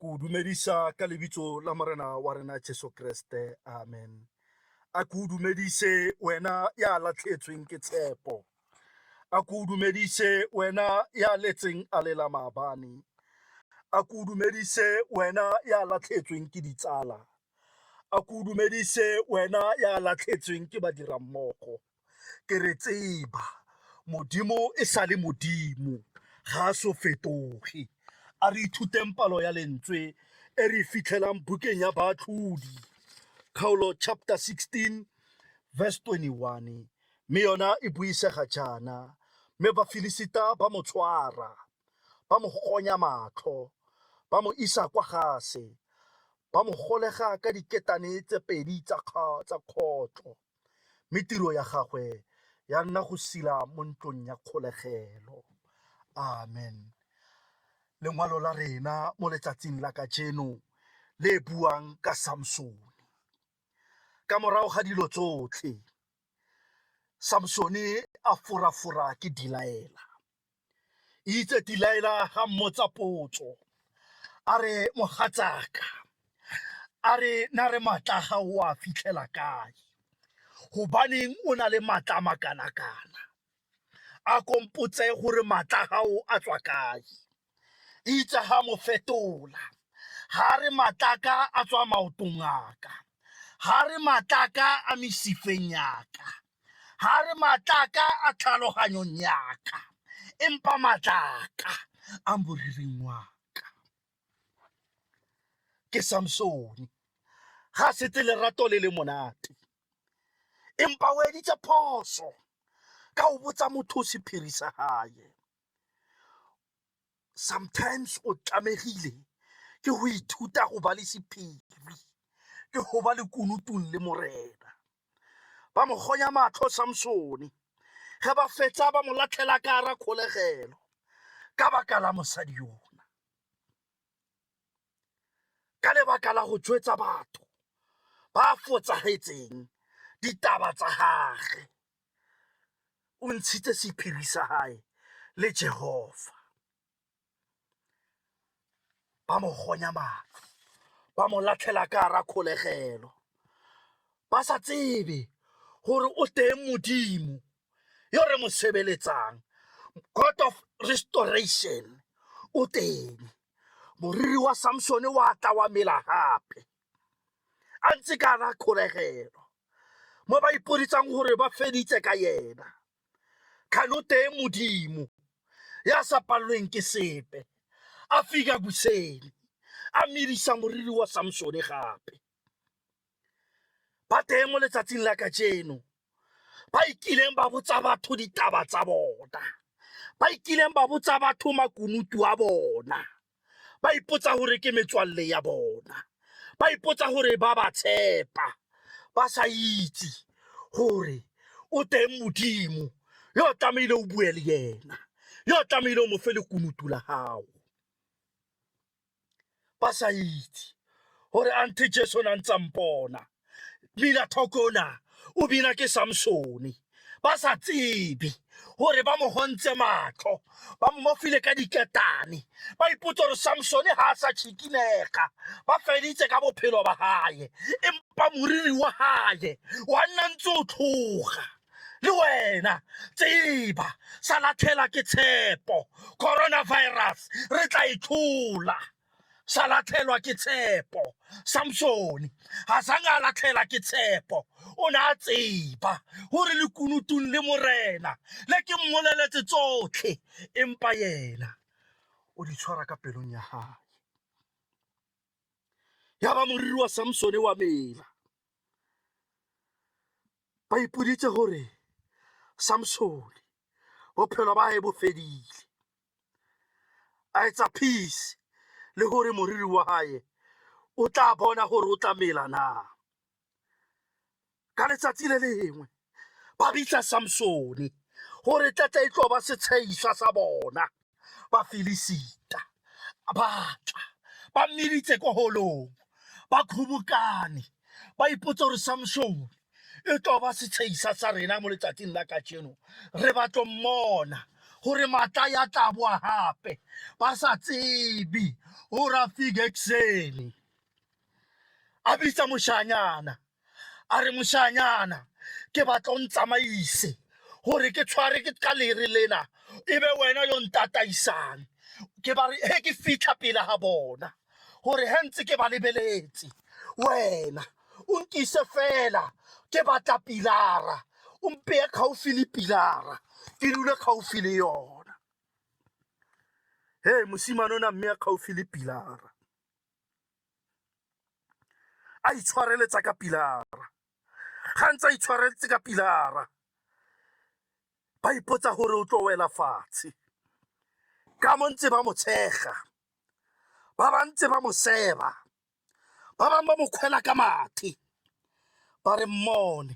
Ke o dumedisa ka lebitso la Morena wa rena Jesu Kreste. Amen. A ke o dumedise wena ya latlhetsweng ke tshepo. A ke o dumedise wena ya letseng a lela maabane. A ke o dumedise wena ya latlhetsweng ke ditsala. A ke o dumedise wena ya latlhetsweng ke badirammogo. ke re tseba modimo e sa le modimo ga a so fetoge a re ithuteng palo ya lentswe e re fitlhelang bukeng ya baatlhodi kgaolo chapter 16 verse 21 mme yona e buisega jaana mme bafilisita ba mo tshwara ba mo gonya matlho ba mo isa kwa gase ba mo golega ka diketane tse pedi tsa kgotlo mme tiro ya gagwe ya nna go sila mo ntlong ya kgolegelo amen lengwalo la rena mo letsatsing la kajeno le buang ka samsone ka morago ga dilo tsotlhe samsone a forafora ke dilaela itse dilaela ga mmotsa potso a re mogatsaka a re na re matla ga o a fitlhela kae gobaneng o na le matla makana-kana a kompotse gore matla gago a tswa kae itse ga mo fetola ga re matlaka a tswa maotong aka ga re matlaka a mesifeng yaka ga re matlaka a tlhaloganyong yaka empa matlaka a moriring waka ke samsone ga sete lerato le le monate empa o editse phoso ka o botsa motho o sephiri sa gae sometimes o tlamegile ke go ithuta go ba le sephiri ke go ba le kunutong le morena ba mo gonya matlho samsone ge ba fetsa ba mo latlhela ka ara kgolegelo ka baka la mosadi yona ka lebaka la go tswetsa batho ba fotsagetseng ditaba tsa gage o ntshitse sephiri sa hae le Jehova. Ba mo gonya matlho, ba mo latlhela ka ra kgolegelo, ba sa tsebe gore o teng modimo yo re mo sebeletsang god of restoration o teng moriri wa samsone wa tla wa mela gape a ntse ka ra kgolegelo mo ba ipoditsang gore ba feditse ka yena kganoteng modimo ya sa palelweng ke sepe a fika boseni a medisa moriri wa samsone gape ba teng mo letsatsing la kajeno ba ikileng ba botsa batho ditaba tsa bona ba ikileng ba botsa batho makunutu a bona ba ipotsa gore ke metswalle ya bona ba ipotsa gore ba ba tshepa ba sa itse gore o teng modimo yo o tlamehile o bue le yena yo o tlamehile o mo fe lekunutu la gago ba sa itse gore ante jesu o na ntse a mpona bina thokona o bina ke samsone ba sa tsebe gore ba mo gontse matlho ba mo file ka diketane ba ipotsa gore samsone ga a sa tšhikinega ba feditse ka bophelo ba gae empa moriri wa gae wa nna ntse o tlhoga le wena tseba sa latlhela ke tshepo coronavirus re tla e tlhola sa latlhelwa ke tshepo samsone ga sange a latlhela ke tshepo o ne a tseba gore lekunutong le morena le ke mmoleletse tsotlhe empa yena o di tshwara ka pelong ya gae ya ba moriri wa samsone wa mela ba ipoditse gore samsone bophelo ba gae bo fedile a etsa peace le gore moriri wa hae o tla bona gore o tla mela na ka letsatsi le lengwe ba bitla samsone gore tlatla e tlo ba setsheišwa sa bona ba filisita ba tla ba mmeditse ko holong ba kgobokane ba ipotsa gore samsone e tlo ba setshehisa sa rena mo letsatsing la kajeno re batlo mmona gore matla ya tla boa gape ba sa tsebe o ra fige ekuseni a bitsa moshanyana a re moshanyana ke batla o ntsamaise gore ke tshware ke ka lere lena e be wena yo ntataisang ke ba re he ke fitlha pele ga bona gore he ntse ke ba lebeletse wena o nkise fela ke batla pilara o mpeye kgaufi le pilara ke dule kgaufi le yona he mosimane o na mme ya kgaufi le pilara a itshwareletsa ka pilara ga ntse a itshwareletse ka pilara ba ipotsa gore o tlo wela fatshe ka mo ntse ba mo tshega ba ba ntse ba mo seba ba bangwe ba mo kgwela ka mathe ba re mmone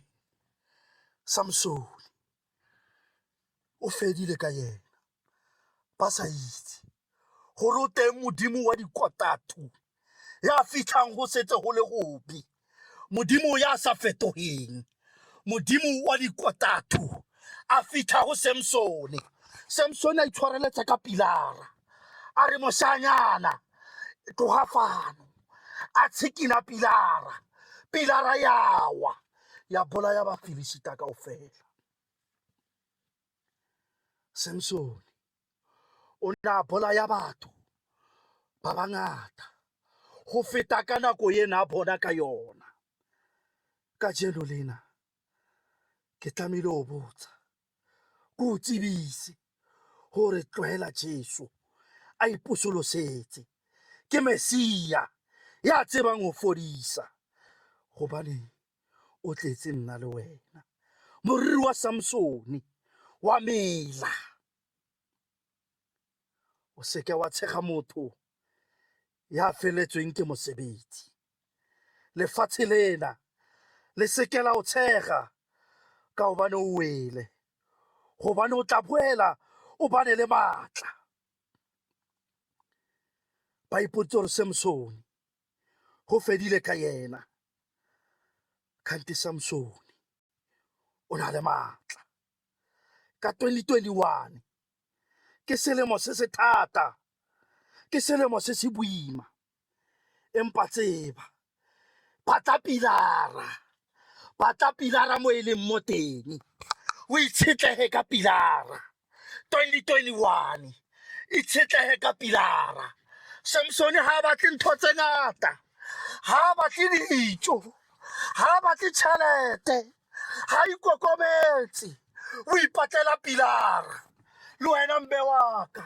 samsone o fedile ka yena ba sa itse gore o teng modimo wa dikotatu ya fitlhang go setse go le gope modimo ya sa fetogeng modimo wa dikotatu a fitlha go samsone samsone a itshwareletsa ka pilara a re moshanyana tloga fano a tshikina pilara pilara yawa ya bolaya bafilisita kao fela Samsone o ne a bolaya batho ba bangata go feta ka nako e ne a bona ka yona ka jeno lena ke tlamehile o botsa ke o tsebise gore tlwaela jesu a iposolosetse ke mesia ya tsebang go fodisa gobane o tletse nna le wena. Moriri wa Samsone wa mela, o seke wa tshega motho ya feletsweng ke mosebetsi. Lefatshe lena le seke la o tshega ka gobane o wele, gobane o tla boela o bane le maatla. Ba ipotse gore Samsone go fedile ka yena kgante samsone o na le maatla ka 2021 ke selemo se se thata ke selemo se se boima empa tseba batla pilara batla pilara mo e leng mo teng o itshetlege ka pilara 2021 itshetlege ka pilara samsone ga a batle ntho tse ngata ga a batle dijo ga a batle tšhelete ga ikokometse o ipatlela pilara le wena mbe waka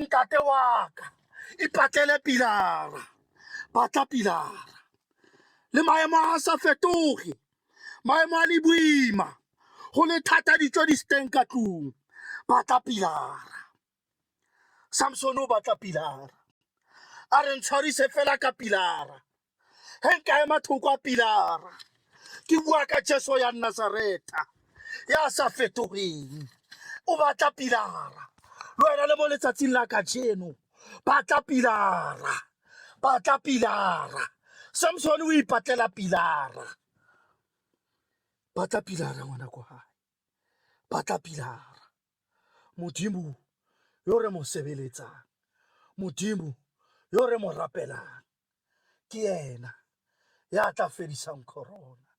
ntate waka ipatlele pilara batla pilara le maemo a sa fetoge maemo a le boima go le thata ditso di steng ka tlong batla pilara samson o batla pilara a re ntshwarise fela ka pilara he nka ema thoko a pilara ke bua ka jesu ya nazareta ya sa fetogeng o batla pilara le wena le mo letsatsing la kajeno batla pilara batla pilara samsone o ipatlela pilara batla pilara ngwana ko gae batla pilara modimo yo re mo sebeletsang modimo yo re mo rapelang ke ena ya tla fedisang corona